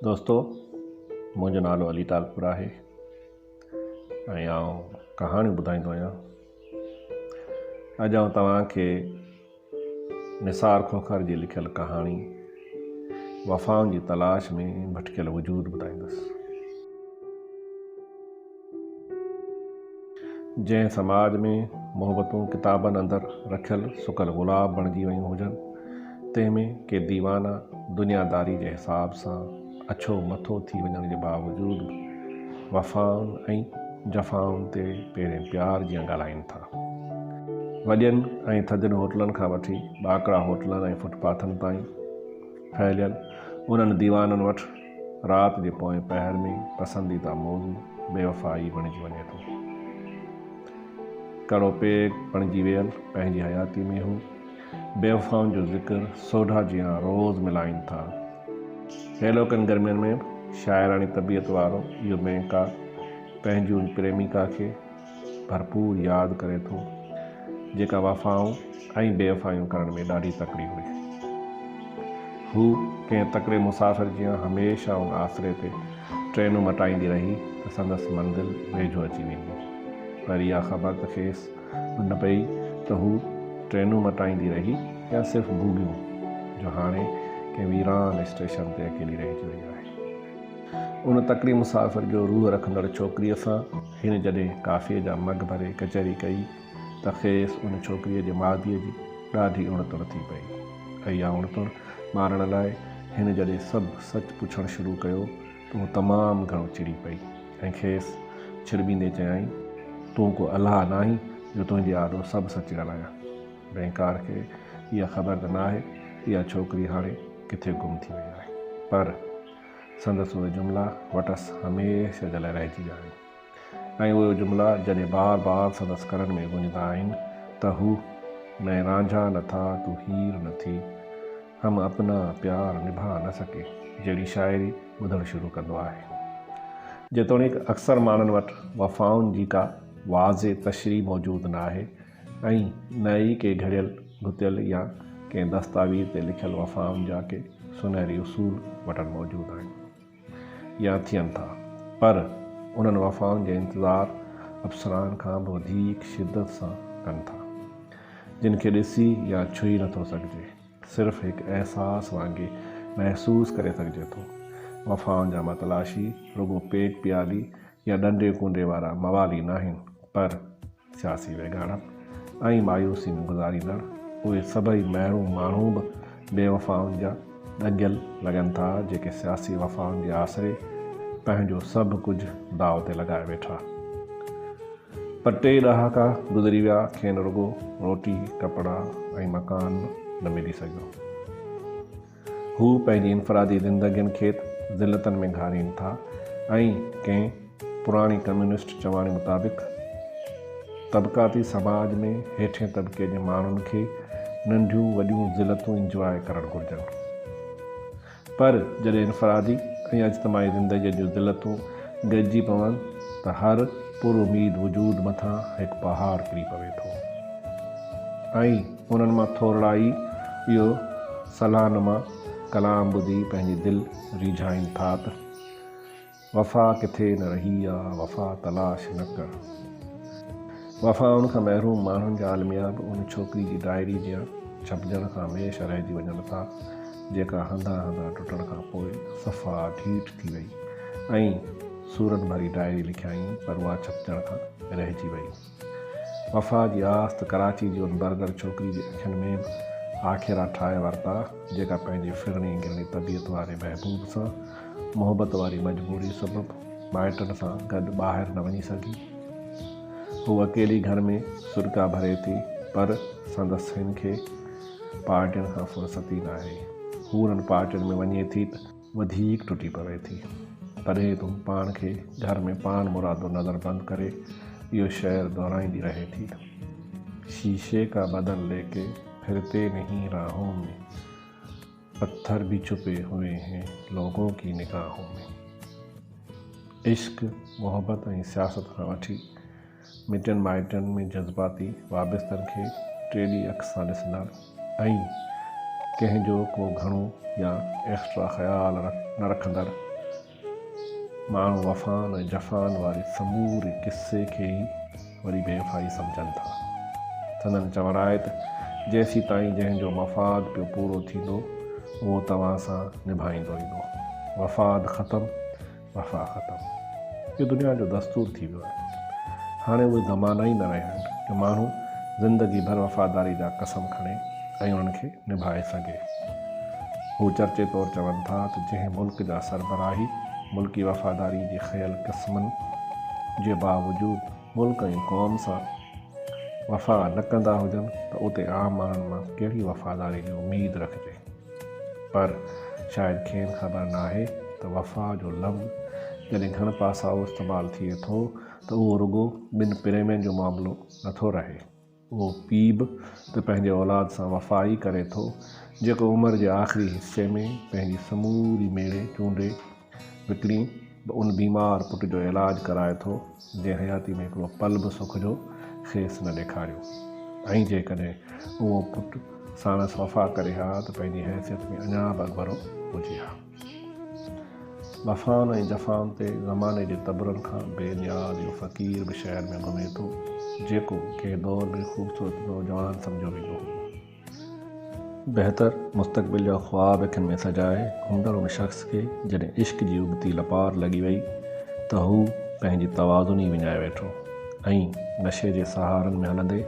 دوستو منهنجو نالو علي تالپور آهي ۽ آئون ڪهاڻيون ٻڌائيندو آهيان اڄ آئون توهان کي نثار کوکر جي لکيل ڪهاڻي وفائن جي تلاش ۾ ڀٽڪيل وجود ٻڌائيندس جنهن سماج ۾ محبتون ڪتابن اندر رکيل سڪل گلاب بڻجي ويون هجن، تنهن ۾ ڪي ديوانا دنياداري جي حساب سان اڇو مٿو ٿي وڃڻ جي باوجود به وفائن ۽ جفائن تي پيرين پيار جيان ڳالهائين ٿا. وڏين ۽ ٿڌين هوٽلن کان وٺي ٻاڪڙا هوٽلن ۽ فٽ پاٿن تائين ڦهليل انهن ديوانن وٽ رات جي پوئين پهر ۾ پسنديده موضوع بيوفائي بڻجي وڃي ٿو. ڪڙو پيگ بڻجي ويل پنهنجي حياتي ۾ هو بيوفائن جو ذڪر سوڍا جيان روز ملائين ٿا. هيلوڪن گرمين ۾ به شاعراڻي طبيعت وارو اهو مينڪا پنهنجي ان پريميڪا کي ڀرپور ياد ڪري ٿو، جيڪا وفائون ۽ بيوفايون ڪرڻ ۾ ڏاڍي تڪڙي هئي. هو ڪنهن تڪڙي مسافر جيان هميشه ان آسري تي ٽرينون مٽائيندي رهي ته سندس منزل ويجهو اچي ويندي، پر اها خبر ته کيس به نه پئي ته هو ٽرينون مٽائيندي رهي يا صرف ڀوڳيون، جو هاڻي ڪنهن ويران اسٽيشن تي اڪيلي رهجي وئي آهي. ان تڪڙي مسافر جو روح رکندڙ ڇوڪريء سان هن جڏهن ڪافيء جا مگ ڀري ڪچهري ڪئي ته کيس ان ڇوڪريء جي ماديء جي ڏاڍي اڻتڻ ٿي پئي. اها اڻتڻ مارڻ لاء هن جڏهن سڀ سچ پڇڻ شروع ڪيو ته هو تمام گهڻو چڙي پئي ۽ کيس ڇڙٻيندي چيائين، تون ڪو الله ناهين جو تنهنجي آڏو سڀ سچ ڳالهايان. بئنڪار کي اها خبر ته ناهي ته اها ڇوڪري هاڻي ڪٿي گم ٿي وئي آهي. پر. سندس اهي جملا وٽس هميشه جي لاء رهجي ويا آهن ۽ اهي جملا جڏهن بار بار سندس ڪنن ۾ گونجندا آهن ته هو، مين رانجها نه ٿا تو هير نه ٿي، هم اپنا پيار نڀا نه سڪي جهڙي شاعري ٻڌڻ شروع ڪندو آهي. جيتوڻيڪ اڪثر ماڻهن وٽ وفائن جي ڪا واضح تشريح موجود ناهي، ۽ نه ئي ڪي گهڙيل گهتيل يا ڪنهن دستاويز تي لکيل وفائن جا ڪي سونهري اصول وٽن موجود آهن يا ٿين ٿا، پر انهن وفائن جو انتظار اپسرائن کان به وڌيڪ شدت سان ڪن ٿا، جن کي ڏسي يا ڇهي نٿو سگهجي، صرف هڪ احساس وانگي محسوس ڪري سگهجي ٿو. وفائن جا متلاشي رڳو پيٽ پيالي يا ڏنڊي ڪونڊي وارا موالي ناهن، پر سياسي ويڳاڻپ ۽ مايوسي ۾ گذاريندڙ اهي سڀئي محروم ماڻهو به بيوفائن جا ڳنجهل لڳن ٿا، جيڪي سياسي وفائن جي آسري پنهنجو سڀ ڪجهه داء تي لڳائي ويٺا. پر ٽي ڏهاڪا گذري ويا، کين رڳو روٽي، ڪپڙا ۽ مڪان نه ملي سگهيو. هو پنهنجي انفرادي زندگين کيت ذلتن ۾ گهارين ٿا ۽ ڪنهن پراڻي ڪميونسٽ چواڻي مطابق طبقاتي سماج ۾ هيٺين طبقي جي ماڻهن کي ننڍيون وڏيون ذلتون انجواء ڪرڻ گهرجن پر جڏهن انفرادي ۽ اجتماعي زندگي جون ذلتون گڏجي پون ته هر پر اميد وجود مٿان هڪ پهاڙ ڪري پوي ٿو ۽ انهن مان ٿورڙا ئي اهو صلاح نما ڪلام ٻڌي پنهنجي دل ريجهائين ٿا ته، وفا ڪٿي نه رهي آ، وفا تلاش نه ڪر. وفائن کان محروم ماڻهن جا الميا به ان ڇوڪري جي ڊائري جيان ڇپجڻ کان هميشه رهجي وڃن ٿا، جيڪا هنڌان هنڌان ٽٽڻ کان پوء صفا ڍيٺ ٿي وئي ۽ سورن ڀري ڊائري لکيائين پر اها ڇپجڻ کان رهجي وئي. وفا جي آس ته ڪراچي جي ان برگر ڇوڪري جي اکين ۾ به آکيرا ٺاهي ورتا، جيڪا پنهنجي ڦرڻي گرڻي طبيعت واري محبوب سان محبت واري مجبوري سبب مائٽن سان گڏ ٻاهر نه وڃي سگهي. هوء اڪيلي گهر ۾ سڏڪا ڀري ٿي، پر سندس هن کي پارٽين کان فرصت ئي ناهي. هو انهن پارٽين ۾ وڃي ٿي ته. وڌيڪ ٽٽي پوي ٿي. تڏهن تون پاڻ کي گهر ۾ پاڻ مرادو نظر بند ڪري اهو شعر دهرائيندي رهي ٿي. شيشي ڪا بدن لي ڪي ڦرتي نهين راهون ۾، پٿر ڀي ڇپي هوئي هين لوگون ڪي نگاهون ۾. عشق، محبت ۽ سياست کان وٺي، مٽن مائٽن ۾ جذباتي وابستن کي ٽيڏي اک سان ڏسندڙ ۽ ڪنهن جو ڪو گهڻو يا ايڪسٽرا خيال نه رکندڙ ماڻهو وفائن ۽ جفائن واري سموري قصي کي ئي وري بي وفائي سمجهن ٿا. سندن چوڻ آهي ته جيسيتائين جنهن جو مفاد پيو پورو ٿيندو اهو توهان سان نڀائيندو ايندو. مفاد ختم وفا ختم. اهو دنيا جو دستور ٿي ويو آهي. هاڻي اهي زمانا ئي نه رهيا آهن جو ماڻهو زندگي ڀر وفاداري جا قسم کڻي ۽ انهن کي نڀائي سگهي. هو چرچي طور چون ٿا ته جنهن ملڪ جا سربراهي ملڪي وفاداري جي کنيل قسمن جي باوجود ملڪ ۽ قوم سان وفا نه ڪندا هجن ته اتي عام ماڻهن مان ڪهڙي وفاداري جي اميد رکجي. پر شايد کين خبر ناهي ته وفا جو لفظ جڏهن گهڻ پاسائو استعمال ٿئي ٿو ته اهو رڳو ٻن پريمين جو معاملو نه ٿو رهي. اهو پيء به ته پنهنجي اولاد سان وفا ئي ڪري ٿو، جيڪو عمر جي آخري حصي ۾ پنهنجي سموري ميڙي چونڊي، وڪڻي به ان بيمار پٽ جو علاج ڪرائي ٿو، جنهن حياتيء ۾ هڪڙو پل به سک جو کيس نه ڏيکاريو ۽ جيڪڏهن اهو پٽ ساڻس وفا ڪري ها ته پنهنجي حيثيت ۾ اڃا به اڳڀرو هجي ها. وفائن ۽ جفائن تي زماني جي تبرن کان بي نياز اهو فقير به شهر ۾ گهمي ٿو، جيڪو ڪنهن دور ۾ خوبصورت نوجوان سمجهيو ويندو هو. بهتر مستقبل جا خواب اکين ۾ سجائي گهمندڙ ان شخص کي جڏهن عشق جي ابتي لپار لڳي وئي ته هو پنهنجي توازن ئي وڃائي ويٺو ۽ نشي جي سهارن ۾ هلندي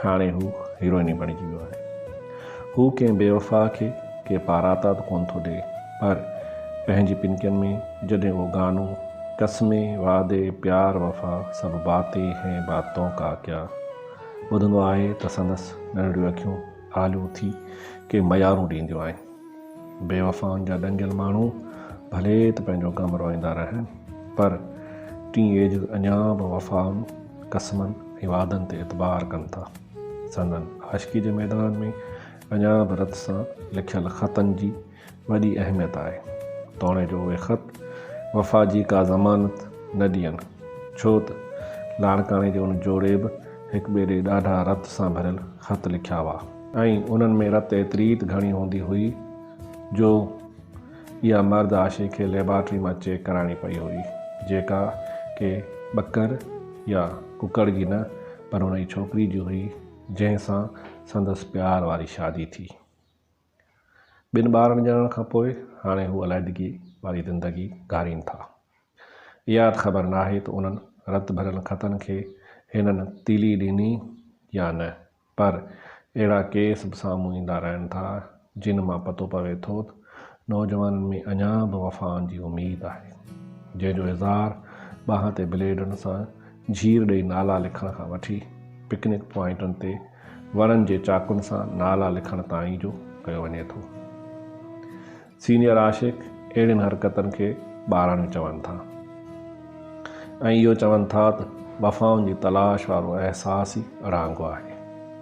هاڻي هو هيروئن ئي بڻجي ويو آهي. هو ڪنهن بيوفا کي ڪي پاراتا ته ڪونه ٿو ڏئي پر پنهنجي پنڪين ۾ جڏهن اهو گانو قسمين، وعدي، پيار، وفا سڀ باتين هين بات تون ڪا ڪيا. ٻڌندو آهي ته سندس ننڍڙيون اکيون آلو ٿي ڪي ميارون ڏينديون آهن. بيوفائن جا ڏنگيل ماڻهو ڀلي ته پنهنجو غم روئيندا رهن پر ٽين ايجز اڃا به وفائن، قسمن ۽ وعدن تي اعتبار ڪن ٿا. سندن عاشقي جي ميدان ۾ اڃا به رت سان لکيل خطن جي وڏي اهميت آهي، توڻي جو اهي خط وفا جي ڪا ضمانت نه ڏين، ڇو ته لاڙڪاڻي جي ان جوڙي به هڪ ٻئي ڏي ڏاڍا رت سان ڀريل خط لکيا هئا، ۽ انهن ۾ رت ايتريت گهڻي هوندي هئي، جو اها مرد آشي کي ليبارٽري مان چيڪ ڪرائڻي پئي هئي، جيڪا ڪي ٻڪر يا ڪڪڙ جي نه، پر ان جي ڇوڪري جي هئي، جنهن سان سندس پيار واري شادي ٿي. ٻن ٻارن ڄڻڻ کان پوء هاڻي هو عليحدگي واري زندگي گهارين ٿا. اهاد خبر ناهي ته انهن رت ڀريل خطن کي هنن تيلي ڏني يا نه، پر اهڙا ڪيس به سامهون ايندا رهن ٿا، جن مان پتو پوي ٿو ته نوجوانن ۾ اڃا به وفائن جي اميد آهي، جنهن جو اظهار ٻانهن تي بليڊن سان جهير ڏئي نالا لکڻ کان وٺي پڪنڪ پوائنٽن تي وڻن جي چاڪن سان نالا لکڻ تائين جو ڪيو وڃي ٿو. سينيئر عاشق اهڙين حرڪتن کي ٻاراڻيون چون ٿا ۽ اهو چون ٿا ته وفائن جي تلاش وارو احساس ئي اڙانگو آهي،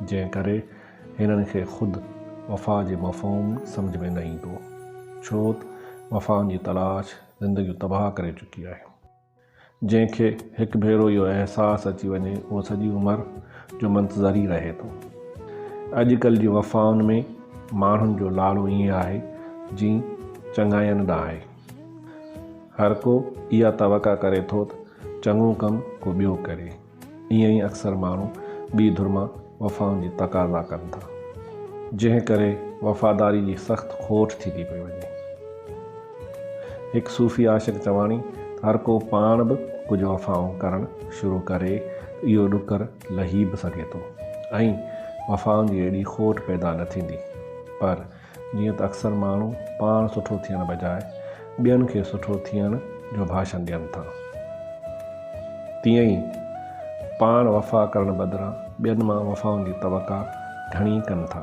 جنهن ڪري هنن کي خود وفا جي مفهوم سمجهه ۾ نه ايندو، ڇوته وفائن جي تلاش زندگيون تباهه ڪري چڪي آهي. جنهن کي هڪ ڀيرو اهو احساس اچي وڃي اهو سڄي عمر جو منتظر ئي رهي ٿو. اڄ ڪلهه جي وفائن ۾ ماڻهن جو لاڙو ائين آهي جيئن چڱاين ڏانهن آهي. هرڪو اها توقع ڪري ٿوته چڱو ڪم ڪو ٻيو ڪري. ائين ئي اڪثر ماڻهو ٻي ڌر مان وفائن جي تقاضا ڪن ٿا، جنهن ڪري وفاداري جي سخت کوٽ ٿي ٿي پئي وڃي. هڪ صوفي عاشق چواڻي ته هر ڪو پاڻ به ڪجهه وفائون ڪرڻ شروع ڪري ته اهو ڏڪر لهي به سگهي ٿو ۽ وفائن جي اهڙي کوٽ پيدا نه ٿيندي پر جيئن ته اڪثر ماڻهو پاڻ سٺو ٿيڻ بجاء ٻين کي سٺو ٿيڻ جو ڀاشن ڏين ٿا تيئن ئي پاڻ وفا ڪرڻ بدران ٻين مان وفائن جي توقع گهڻي ڪن ٿا.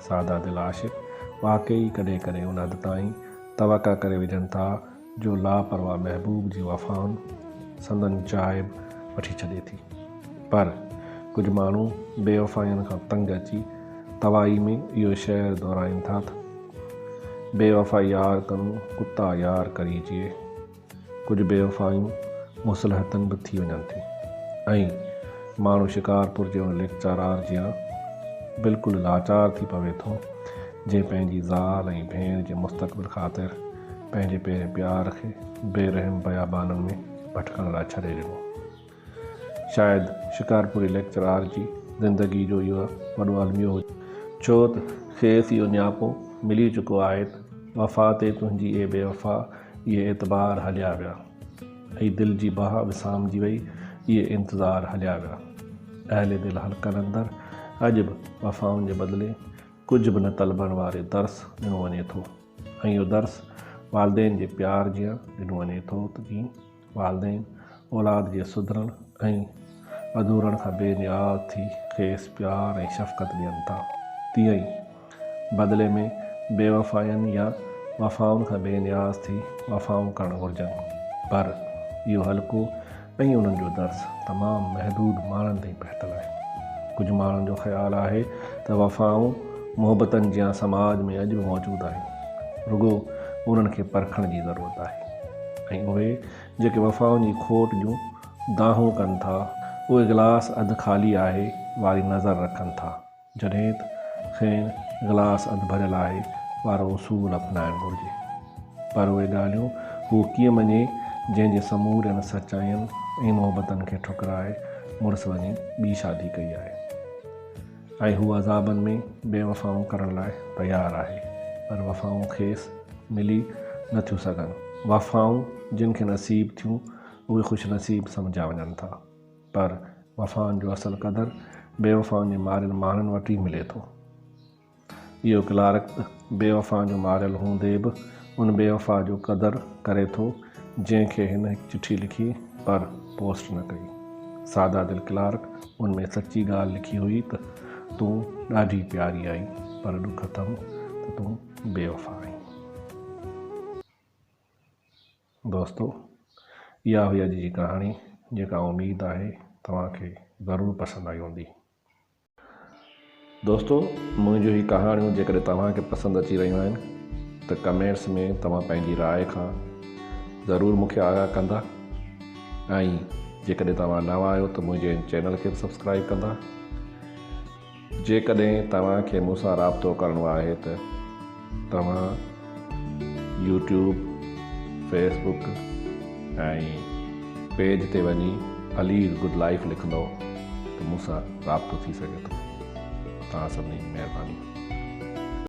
سادا دل عاشق واقعي ڪڏهن ڪڏهن ان حد تائين توقع ڪري وجهن ٿا جو لاپرواهه محبوب جي وفائن سندن چاهه به وٺي ڇڏي ٿي پر ڪجهه ماڻهو بيوفائين کان تنگ اچي توائي ۾ اهو شعر دهرائين ٿا ته بيوفا يار ڪنون ڪتا يار ڪري جيئي ڪجهه بيوفائيون مصلحتن به ٿي وڃن ٿيون ۽ ماڻهو شڪارپور جي ان ليڪچارار جيان بلڪل لاچار ٿي پوي ٿو جنهن پنهنجي زال ۽ ڀيڻ جي مستقبل خاطر پنهنجي پيرين پيار کي بي رحم بيابانن ۾ ڀٽڪڻ لاء ڇڏي ڏنو. شايد شڪارپوري ليڪچرار جي زندگي جو اهو وڏو الميو هجي. ڇو ته کيس اهو نياپو ملي چڪو آهي ته وفا تي تنهنجي اي بي وفا اي اعتبار هليا ويا. اي دل جي باهه وسامجي وئي اي انتظار هليا ويا. اهل دل حلقن اندر اڄ به وفائن جي بدلي ڪجهه به نه طلبڻ واري درس ڏنو وڃي ٿو. ۽ اهو درس والدين جي پيار جيان ڏنو وڃي ٿو ته ڪيئن والدين اولاد جي سڌرڻ ۽ وڌورڻ کان بي نياز ٿي کيس پيار ۽ شفقت ڏين ٿا تيئن ئي بدلي ۾ بيوفائين يا وفائن کان بي نياز ٿي وفائون ڪرڻ گهرجن پر اهو هلڪو ۽ انهن جو درس تمام محدود ماڻهن تائين پهتل آهي. ڪجهه ماڻهن جو خيال آهي ته وفائون محبتن جيان سماج ۾ اڄ به موجود آهن، رڳو انهن کي پرکڻ جي ضرورت آهي ۽ اهي جيڪي وفائن جي کوٽ جون دانهون ڪن ٿا، اهي گلاس اڌ خالي آهي واري نظر رکن ٿا. جڏهن ته کين گلاس اڌ ڀريل آهي وارو اصول اپنائڻ گهرجي. پر اهي ڳالهيون هو ڪيئن مڃي جنهن جي سمورين سچائين ۽ محبتن کي ٺڪرائي مڙس وڃي ٻي شادي ڪئي آهي ۽ هو عذابن ۾ بي وفائون ڪرڻ لاء تيار آهي پر وفائون کيس ملي نه ٿيون سگهن. وفائون جن کي نصيب ٿيون اهي خوش نصيب سمجهيا وڃن ٿا. پر وفائن جو اصل قدر بي وفائن جي ماريل ماڻهن وٽ ئي ملي ٿو. اهو ڪلارڪ به بي وفائن جو ماريل هوندي به ان بي وفا جو قدر ڪري ٿو جنهن کي هن هڪ چٺي لکي پر پوسٽ نه ڪئي. سادا دل ڪلارڪ ان ۾ سچي ڳالهه لکي هئي ته تون ڏاڍي پياري آهين پر ڏک اٿم ته تون بي وفا آهين. دوستو اها هئي اڄ جي ڪهاڻي جيڪا اميد آهي توهان کي ضرور پسند آئي هوندي. دوستو منهنجون هي ڪهاڻيون جيڪڏهن توهان کي پسند اچي رهيون آهن ته ڪمينٽس ۾ توهان پنهنجي راء کان ضرور مون کي آگاهه ڪندا ۽ جيڪڏهن توهان نوان آهيو ته منهنجي هن چينل کي به سبسڪرائيب ڪندا. جيڪڏهن توهان کي مون سان رابطو ڪرڻو آهي ته توهان يوٽيوب، فيس بڪ ۽ پيج تي وڃي علي از گڊ لائيف لکندو ته مون سان رابطو ٿي سگهي ٿو. توهان سڀني جي مهرباني.